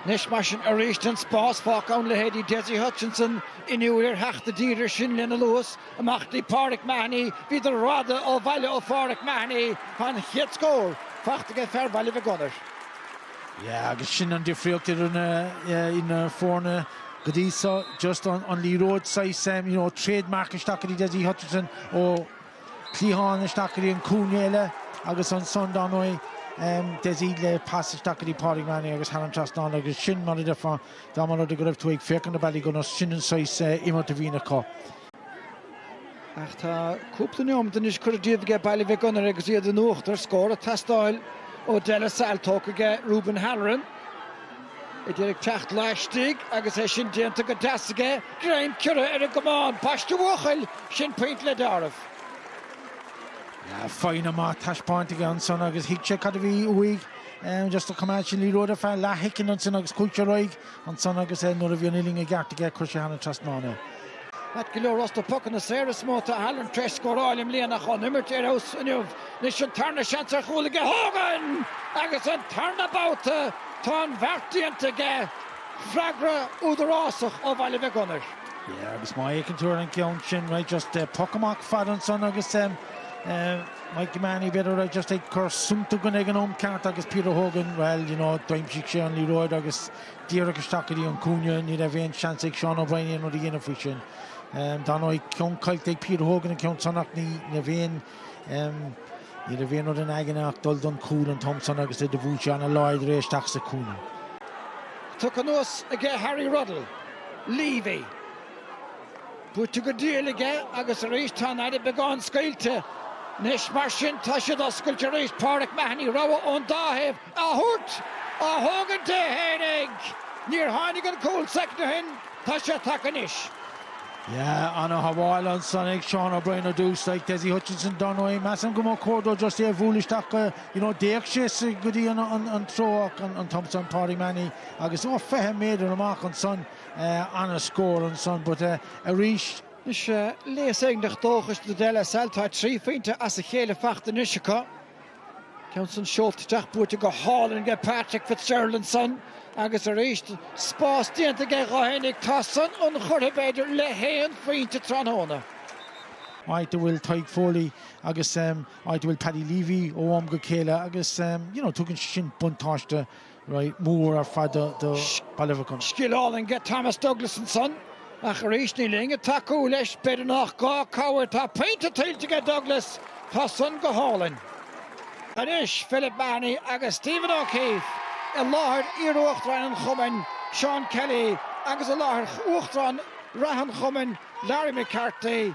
Anois mar sin arís tá an spás fágtha ann leithéidí Dessie Hutchinson inniúil ar theacht i dtír air sin lena luas, amach dtí Pauric Mahony, bhíodar rófhada ó bhaile ó Pháuric Mahony, tá an chéad scór faighte aige fear Bhaile Mhic Gonair. Yeah agus sin an difríocht idir na idir na foirne go dtí seo just an an liathróid saghas you know trademark isteach go dtí Dessie Hutchinson ó cliathán isteach go dtí an cúinne eile agus ansan dar ndóigh Dessie le pas isteach go dtí Pauric Mahony agus thar an trasnán agus sin mar a deirfeá dá mba rud é go raibh tú ag féachaint ar Ballygunner sin an saghas imirt a bhíonn acu. Ach tá cúpla neomat anois curtha díobh aige Baile Mhic Gonair agus iad in uachtar, scór ag teastáil ó De La Salle, tógtha aige Reuben Halloran. É d'iarraidh teacht laistigh agus é sin déanta go deas aige, greim ciorraithe ar an gcamán, ambaiste a bhuachaill! Sin pointe le dealramh. Foighne maith taispeáinte aige ansan agus thuig sé cad a bhí uaidh. Just a choimeád sé an liathróid ar feadh leath shoicind ansin agus chuaigh sé ar aghaidh ansan agus nuair a bhí an uillinn i gceart aige chuir sé thar an trasnán é. Ait go leor, ós na pocanna saora is mó atá Halloran tréis scóráil i mbliana ach ón imirt ar fheabhas inniu, anois an tarna seans ar chúl aige Hogan! Agus an tarna babhta tá an bheart déanta aige, freagra údarásach ó Bhaile Mhic Gonair. Yeah agus má fhéiceann tú ar an gceann sin right just poc amach fad ansan agus Mikey Mahony b'fhéidir raibh just ag cur sunta gunna ag an am ceart agus Peter Hogan bhuel you know d'aimsigh sé an liathróid agus díreach isteach go dtí an cúinne. Ní raibh aon seans ag Shaun O'Brien aon rud a dhéanamh faoi sin. Dar ndóigh ceann caillte ag Peter Hogan an ceann san ach ní raibh aon ní raibh aon rud ina aigne ach dul don cúl an t-am san agus é do bhuail sé ana láidir é isteach sa cúinne. Tugtha anuas aige Harry Ruddle, Leavey. Buaite go diail aige agus arís tá an fhaire beagán scaoilte. Anois mar sin tá siad oscailte arís. Pauric Mahony, rogha ón dá thaobh. a thabhairt, á thógaint é fhéinig. Níor tháinig an cúl soicind ó shin, tá sé tagtha anois. Yeah, ana shábháil ansan ag Shaun O'Brien ar dtús, like Dessie Hutchinson dar ndóigh, measaim go mba chóir dó just é a bhualadh isteach go, you know, d'fhéach sé sa, go dtí an, an, an treo ach an, an t-am san Pauric Mahony agus ó fiche méadar amach ansan, eh, ana scór ansan but eh, arís. Anois, léas éigineach dóchais do De La Salle, tá trí phointe as a chéile faighte anois acu. Ceann san seolta isteach buaite go hálainn aige Patrick Fitzgerald ansan agus arís spás déanta aige dhó fhéinig, tá san inchurtha b'fhéidir le haon phointe tráthnóna. áit a bhfuil Tadhg Foley agus áit a bhfuil Paddy Leavey ó am go chéile agus you know tugann sé sin buntáiste ró-mhór ar fad do Ballybacon. Scaoileann go Thomas Douglas ansan, ach arís níl éinne ag tacú leis, b'fhéidir nach gá cabhair, tá pointe tuillte aige Douglas, tá san go hálainn. Anois, Philip Mahony agus Stephen O'Keefe, i láthair iar-Uachtaráin an Chumainn, Seán Kelly, agus i láthair Uachtarán reatha an Chumainn, Larry McCarthy,